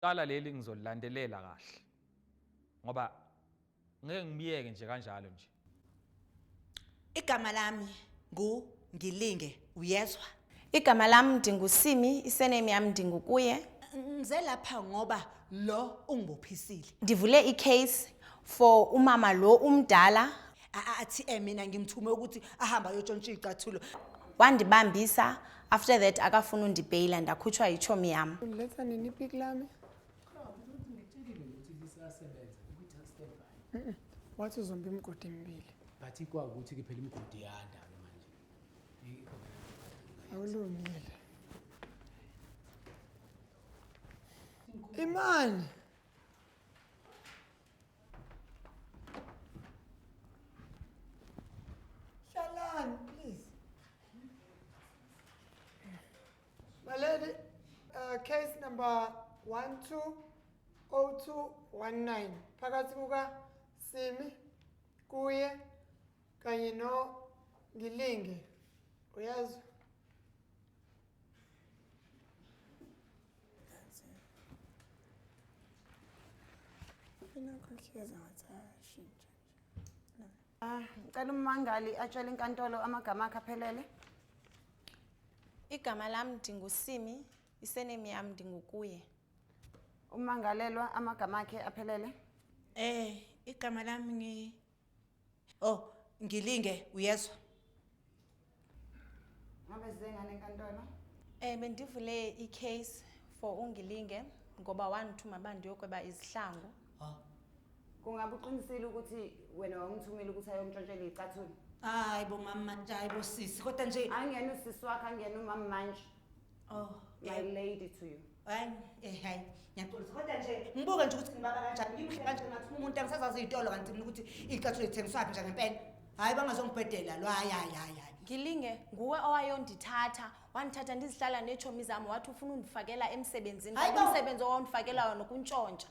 Cala leli ngizolilandelela kahle. Ngoba ngeke ngibiyeke nje kanjalo nje. Igama lami ngu Ngilinge uyezwa. Igama lami ndingusimi, isename yami ndingukuye. Ngize lapha ngoba lo ungibophisile. Ndivule icase for umama lo umdala. athi eh mina ngimthume ukuthi ahamba ayotshontsha iy'cathulo wandibambisa after that akafuna undibheyila ndakhutshwa yitshomi yam uletha nini ipiki lami wathi uzomba imigodi emibili but ikwakuthi-ke phela imigodi yanda-ke manje awulungile imani Hlalani please. My lady, uh, case number 120219 phakathi kuka Simi kuye kanye no Ngilinge. Uyazwa? Ah, ngicela ummangali atshele inkantolo amagama akhe aphelele. Igama lami ndingusimi, isenemi yami ndingukuye. Ummangalelwa amagama akhe aphelele. Eh, igama lami ngi Oh, ngilinge uyezwa. Ngabe zengane enkantolo? Eh bendivule icase for ungilinge ngoba wangithuma bandi yokweba izihlangu. Oh. Kungabe uqinisile ukuthi wena wangithumela ukuthi ayongitshontshela icathula? Hayi bo mama, hayi bo sisi. Kodwa nje Angiyena usisi wakho, angiyena umama manje. oh, My yeah. lady to you. hayi eh hayi ngiyaxolisa kodwa nje ngibuke nje ukuthi ngibaba kanjani ngimhle kanje ngathi umuntu angisazazi izitolo kanti mina ukuthi icathulo ithengiswa phi nje ngempela hayi bangazongibhedela lo hayi hayi hayi hayi ngilinge nguwe owayondithatha wandithatha ndizihlala neetshomi zam wathi ufuna undifakela emsebenzini Hayi bo! umsebenzi owawundifakela wona ukuntshontsha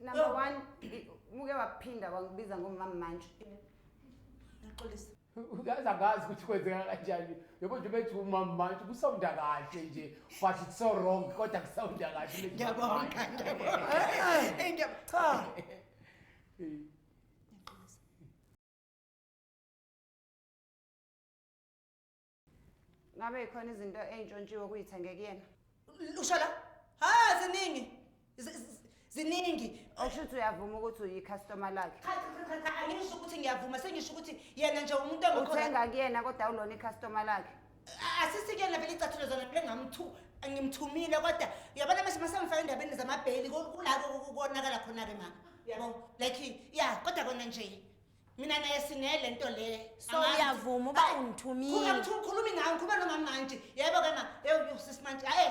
number oh. one muke waphinda wangibiza ngomama manje ngixolisa uyazi angazi ukuthi kwenzeka kanjani yabo nje bethi umama manje kusawunda kahle nje but it's so wrong kodwa kusawunda kahle ngiyabonga ngiyabonga cha Ngabe ikhona izinto ey'ntshontshiwe kuyithenge kuyena. Usho la? Ha ziningi. Z- z- Ziningi. Okusho ukuthi uyavuma ukuthi uyicustomer lakhe. Cha cha cha cha angisho ukuthi ngiyavuma sengisho ukuthi yena nje umuntu engikho Uthenga kuyena kodwa awulona icustomer lakhe. asisikuyena vele icathulo zona vele ngamthu ngimthumile kodwa uyabona mase masemfaka endabeni zamabheli ku- kulako ku- konakala khona-ke mama yabo like ya kodwa kona nje mina naye sinele nto le so uyavuma uba ungithumile ukhulumi ngayo ngikhuluma nomama manje yebo ke ma ewusisi manje aye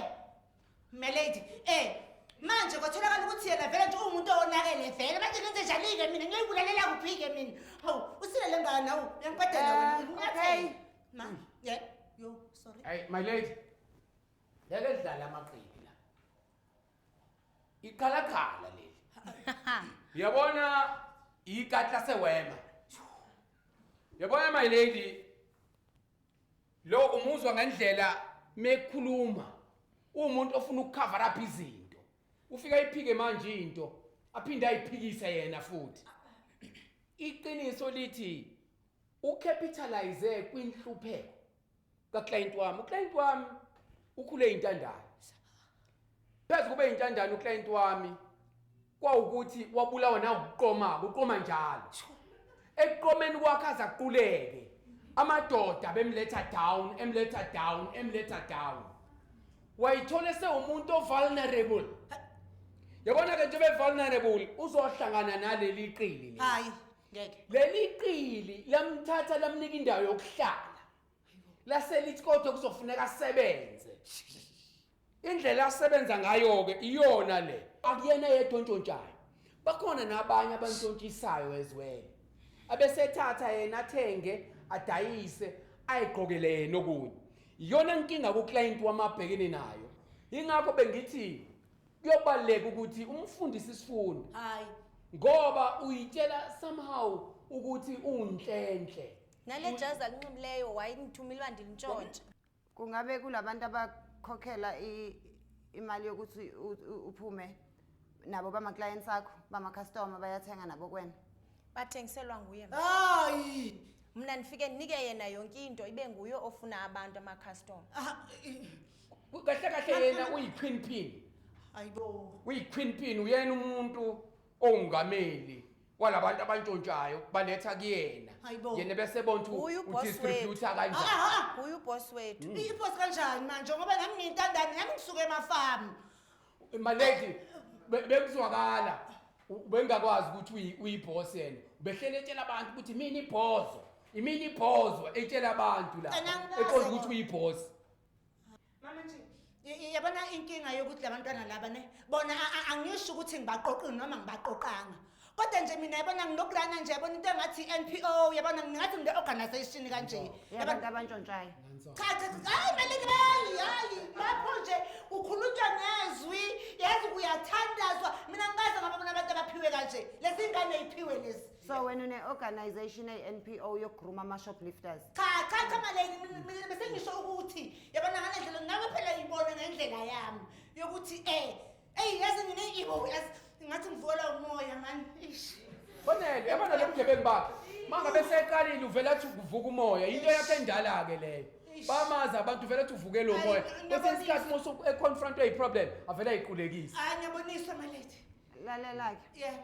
my lady eh manje kwatholakala ukuthi yena vele nje uwumuntu owonakele vele manje ngenze njani-ke mina ngiyibulalela kuphi-ke mina hawu usile le ngane hawu uyangiqedela wena eh, okay ma ye yo sorry hey my lady yake dlala amaqili iqhalaqhala leli uyabona ikati lasewema yabona my lady lo umuzwa ngendlela mekhuluma umuntu ofuna ukucover up izinto ufika iphike manje into aphinde ayiphikise yena futhi iqiniso lithi ucapitalize kwinhlupheko kaClient wami uClient wami ukhule intandane phezu kube intandane uClient wami kwawukuthi wabulawa na ukuqoma ukuqoma njalo ekuqomeni kwakhe azaquleke amadoda bemletha down emletha down emletha down wayithole sewumuntu ovulnerable yabona ke nje be vulnerable uzohlangana naleli qili hayi ngeke leli qili lamthatha lamnika indawo yokuhlala laselithi kodwa kuzofuneka asebenze indlela asebenza ngayo-ke iyona le akuyena yedwa ontshontshayo bakhona nabanye abantshontshisayo ezwele abesethatha yena athenge adayise ayigqokele yena okunye iyona nkinga kuclient wamabhekene nayo ingakho bengithi kuyobaleka ukuthi umfundise isifundo hayi ngoba uyitshela somehow ukuthi unhlenhle nale jazi alinxibileyo wayinithumile wandilintshontsha kungabe kulabantu abakhokhela i- imali yokuthi u- u- uphume nabo bama-clients akho bama-customer bayathenga nabo kwena bathengiselwa nguye mna. hayi mna ndifike ndinike yena yonke into ibe nguye ofuna abantu amakhastoma Ah, i- kahle kahle yena uyi-queen pin ayibo uyi-queen pin uyena umuntu owungameli walabantu abantshontshayo baletha kuyena Hayibo. yena bese bona ukuthi Uyu boss udistributha wethu. kanjani aha Uyu boss wethu. ipost kanjani manje ngoba nami ngiyintandane nami ngisuke emafamu malady be- bekuzwakala u- bengakwazi ukuthi uyi- uyiboss yena ubehlele etshela abantu ukuthi mina ibhozo imina ibhozo etshela abantu la Kanangazi eqonda ukuthi ngoba. uyiboss yabona inkinga yokuthi labantwana laba ne bona angisho ukuthi ngibaqoqile noma ngibaqoqanga kodwa nje mina yabona nginokulana nje yabona into engathi i-npo yabona ngingathi ngile organisation kanje yabantu abantshontshayo cha cha hayi malingani hayi lapho nje ukhulunywa ngezwi yazi uyathandazwa mina ngikaze ngababona abantu abaphiwe kanje lezi ngane yiphiwe lezi so wena une-organization eyi-npo yokugruma ama-shoplifters cha cha cha maleki mina- mina besengisho ukuthi yabona ngale ndlela nawe phela yibone ngendlela yami yokuthi eh eyi yazi mina ibo yazi ngathi ngivukelwa umoya mani ish Bonele, yabona lo mgebengu bakhe. Manga bese eqalile uvela athi kuvuka umoya. Into yakhe endala ke leyo. Eish. Bamazi abantu uvela athi uvuke lo Ayi, moya. ngiyabonisa. Kwesinye isikhathi musu econfront a problem avela iqulekisa. hayi ngiyaboniswa maleki lalela-ke yebo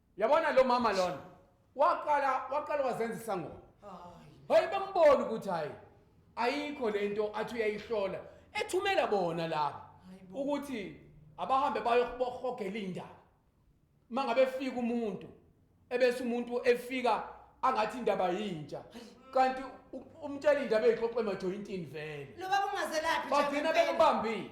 yabona lo mama lona waqala waqala wazenza isangoma hayi bambona ukuthi hayi ayikho lento athi uyayihlola ethumela bona laba ukuthi abahambe bayohogela indaba mangabe efika umuntu ebese umuntu efika angathi indaba yintsha kanti umtshela indaba ezixoxe emajoyintini vele lo baba ungazelaphi bagcina bekubambile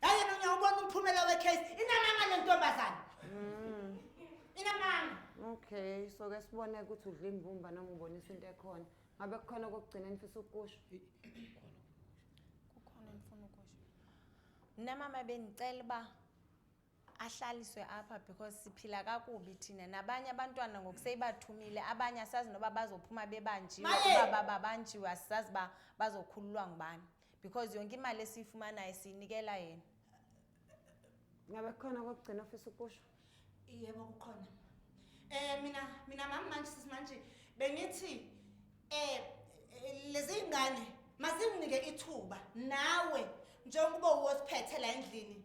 Hayi mina uyawubona umphumela wecase. Inamanga le ntombazane. Mm. Inamanga. Okay, so ke sibone ukuthi udla imbumba noma ubonisa into ekhona. Ngabe kukhona kokugcina nifisa ukusho. Kukhona ngifuna ukusho. Mina mama benicela ba ahlaliswe apha because siphila kakubi thina nabanye abantwana ngokuseyibathumile abanye asazi noba bazophuma bebanjiwe Maye! uba babanjiwe asazi ba bazokhululwa ngubani because yonke imali esiyifumanayo siyinikela yena ngabe khona kokugcina ofisa ukusho yebo kukhona eh mina mina mama manje sisi manje bengithi eh, eh lezi ingane mazinginike ithuba nawe njengoba uwosiphethe la endlini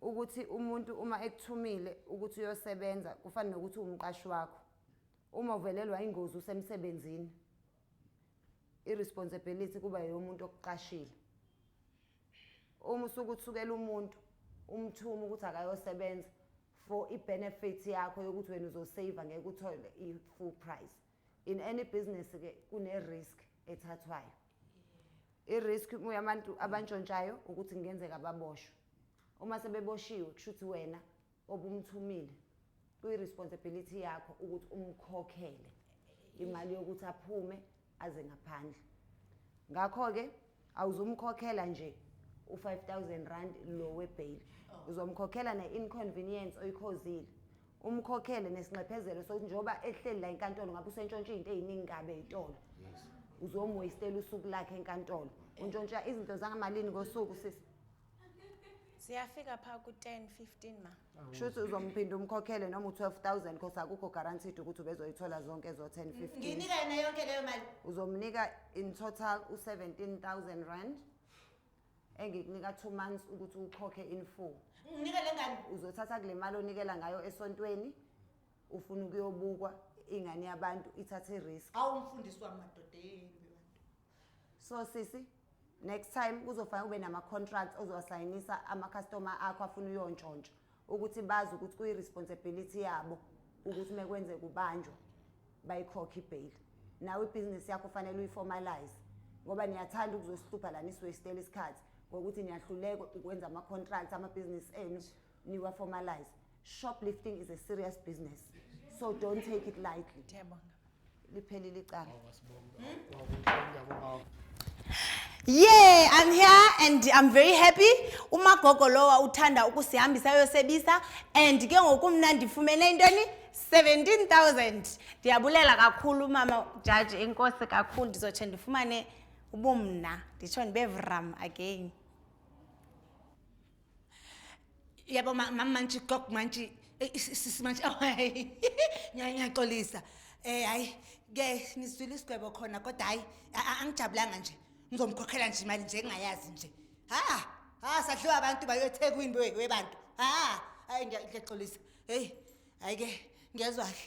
ukuthi umuntu uma ekuthumile ukuthi uyosebenza kufana nokuthi umqashi wakho uma uvelelwa ingozi usemsebenzini irresponsibility kuba yomuntu okuqashile uma usukuthukela umuntu umthuma ukuthi akayosebenza for ibenefit yakho yokuthi wena uzosave ngeke uthole i-full price in any business ke kune risk ethathwayo i risk kuyabantu abantshontshayo ukuthi ngenzeka baboshwe uma sebeboshiwe kushuthi wena obumthumile kuyi responsibility yakho ukuthi umkhokhele imali yokuthi aphume aze ngaphandle ngakho ke awuzumkhokhela nje u5000 rand lo webail oh. uzomkhokhela ne inconvenience oyikhozile umkhokhele nesinxephezelo sokuthi njengoba ehleli la enkantolo ngabe usentshontsha izinto eziningi kabe itolo uzomuwastela usuku lakhe enkantolo untshontsha izinto zangamalini ngosuku sisi siyafika pha ku-10 15 ma kusho ukuthi uzomphinda umkhokhele noma u-12000 cause akukho guaranteed ukuthi ubezoyithola zonke ezo-10 15 nginika yena yonke leyo mali uzomnika in total u-17000 rand engikunika two months ukuthi ukhokhe in full nginika le ngane uzothatha kule mali onikela ngayo esontweni ufuna ukuyobukwa ingane yabantu ithathe i-risk awu mfundisi wami madoda yeyeni bebantu so sisi next time kuzofanele ube nama-contracts ozowasayinisa ama-customer akho afuna uyontshontsha ukuthi bazi ukuthi kuyi-responsibility yabo ukuthi uma kwenzeka ubanjwa bayikhokhe ibheyili nawe ibhizinisi yakho fanele uyiformalize ngoba niyathanda ukuzosihlupha la nisiwestela isikhathi ngokuthi niyahluleka ukwenza ama-contract amabhizinisi enu niwa-formalize shoplifting is a serious business so don't take it lightly liphelile icala Yeah, I'm here and I'm very happy. Umagogo lowa uthanda ukusihambisa ayosebisa and ke ngoku mna ndifumene intoni 17000. Ndiyabulela kakhulu mama judge enkosi kakhulu ndizotshe ndifumane ubumna. Nditsho ndibe vram again. yabo mama manje gog manje sisi manje away ngiyaxolisa eh hayi ke nizwile isigwebo khona kodwa hayi angijabulanga nje ngizomkhokhela nje imali nje engayazi nje ha ha sadliwa abantu bayothekwini webantu ha hayi ngiyaxolisa hey hayi ke ngiyazwa kahle